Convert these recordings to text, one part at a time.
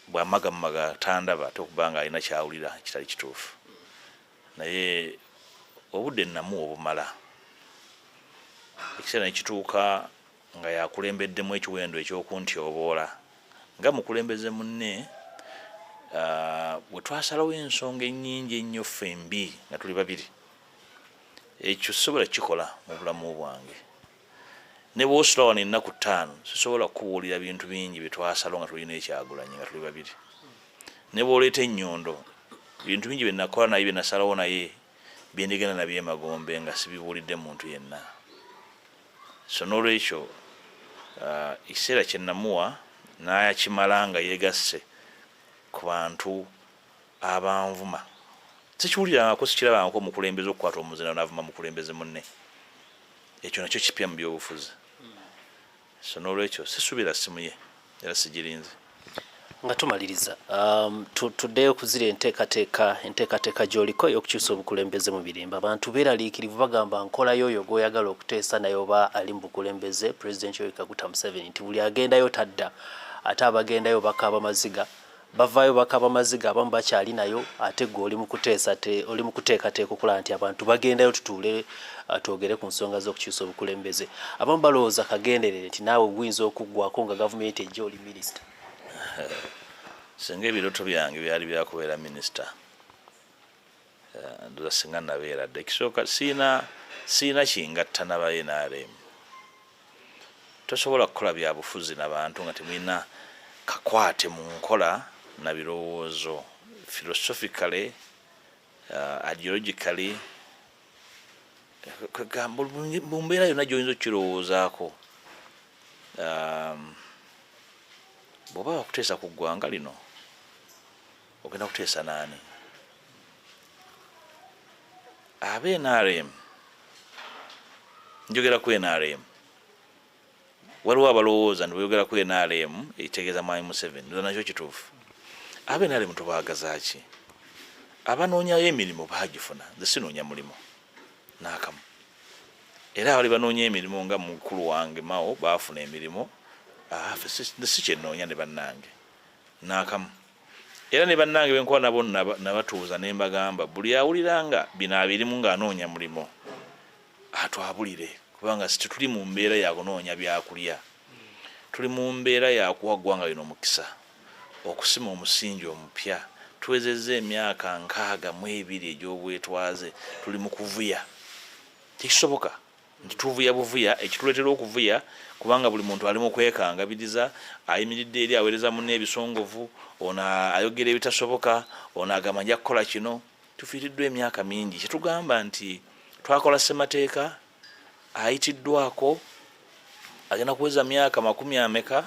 bwamagamaga tandaba ate okuba nga alina kyawulira kitali kituufu naye obudde namu obumala ekiseera nekituuka nga yakulembeddemu ekiwendo ekyokuntyoboola nga mukulembeze munne ah, bwe twasalawo ensonga enyingi ennyo ffe mbi nga tuli babiri ekyo sobola kikola mu bulamu bwange ne bwosula wano ennaku ttaano sisobola kukubuulira bintu bingi byetwasalo nga tulina ekyagulanyi nga tuli babiri ne bwoleeta ennyondo bintu bingi byenakola naye byenasalawo naye byendigenda nabyo emagombe nga sibibuulidde muntu yenna so nolwekyo uh, ekiseera kyenamuwa nayakimala nga yegasse ku bantu abanvuma sikiwulirangako sikirabangako omukulembeze okukwata omuzina navuma mukulembeze munne ekyo nakyo kipya mu byobufuzi so nolwekyo sisubira simu ye era sigirinze nga tumaliriza um, tuddeyo kuzira enteekateeka enteekateeka gyoliko ey'okukyusa obukulembeze mu birimba abantu beeraliikirivu bagamba nkola yoyo gwoyagala okuteesa naye oba ali mu bukulembeze pulezidenti yoyikaguta museveni nti buli agendayo tadda ate abagendayo bakaaba maziga bavaayo bakaba maziga abamu bakyali nayo ate gwe oli mukuteesa te oli mukuteekateeka okulaba nti abantu bagendayo tutuule uh, twogere ku nsonga z'okukyusa obukulembeze abamu balowooza kagenderere nti naawe guyinza okuggwako nga gavumenti ejja oli minisita singa ebiroto byange byali byakubeera minisita eh, ndoza singa nabeera dda ekisooka siina siina kingatta naba nrm tosobola kukola byabufuzi nabantu nga temulina kakwate mu nkola na birowoozo philosophically uh, ideologically kwegamba mu mbeera yonna gyoyinza okukirowoozaako um, bw'oba wakuteesa ku ggwanga lino ogenda kuteesa naani aba nrm njogera ku nrm waliwo abalowooza nti bweyogera ku nrm ekitegeeza mwami museveni nza nakyo kituufu aba nrm tubaagazaki abanoonyayo emirimu baagifuna nze sinoonya mulimu naakamu era abali banoonya emirimu nga mukulu wange mao baafuna emirimu ah, si kyenoonya ne bannange naakamu era ne bannange benkuba nabo nabatuuza ne mbagamba buli awulira nga bino abirimu ng'anoonya mulimu atwabulire kubanga situtuli mu mbeera yakunoonya byakulya tuli mu mbeera yakuwa ggwanga lino omukisa okusima omusingi omupya tuwezezza emyaka nkaaga mu ebiri egy'obwetwaze tuli mu kuvuya tekisoboka nti tuvuya buvuya ekituleetera okuvuya kubanga buli muntu ali mu kwekangabiriza ayimiridde eri aweereza munne ebisongovu ono ayogera ebitasoboka ono agamba nja kukola kino tufiiriddwa emyaka mingi kyetugamba nti twakola ssemateeka ayitiddwako agenda kuweza myaka makumi ameka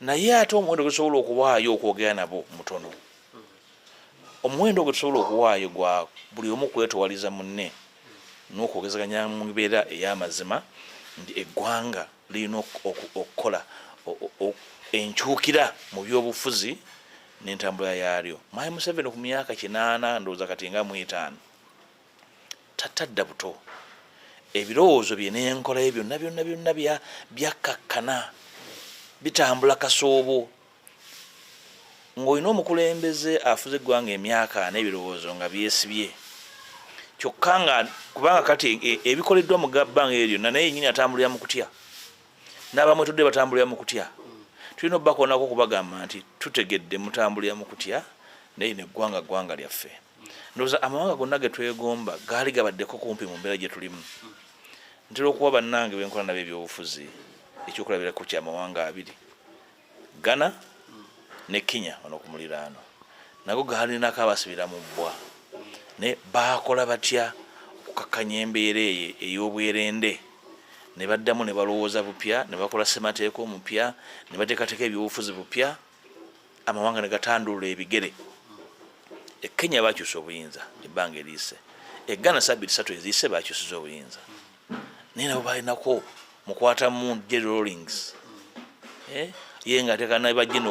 naye ate omuwendo gwetusobola okuwaayo okwogera nabo mutono omuwendo gwetusobola okuwaayo gwa buli omu kwetowaliza munne nokwogezaganya mu mbeera ey'amazima nti eggwanga lirina okukola enkyukira mu byobufuzi n'entambula yaalyo. Mwami Museveni ku myaka kinaana ndowooza kati nga mu etaano. tatadda buto ebirowoozo bye n'enkola ye byonna byonna byonna byakkakkana bitambula kasoobo ng'olina omukulembeze afuze eggwanga emyaka n'ebirowoozo nga byesibye kyokka nga kubanga kati e, e, ebikoleddwa mu gabbanga eyo lyonna naye yenyini atambulira mu kutya n'abamwetudde batambulira mu kutya tulina obubakoonako okubagamba nti tutegedde mutambulira mu kutya naye neggwanga ggwanga lyaffe ndoza amawanga gonna getwegomba gaali gabaddeko kumpi mu mbeera gyetulimu ntera okuwa bannange benkola nabo ebyobufuzi ekyokulabirako kya mawanga abiri ghana ne kenya ono ku muliraano nago gaalinako abasibira mu bbwa naye baakola batya okukakkanya embeera eye ey'obwerende ne baddamu ne balowooza bupya ne bakola ssemateeka omupya ne bateekateeka ebyobufuzi bupya amawanga ne gatandulula ebigere e kenya bakyusa obuyinza ebbanga eriise e ghana sabiti satu eziise bakyusiza obuyinza naye nabo balinako mukwata mu jerry rollings eh? ye nga atekana bajina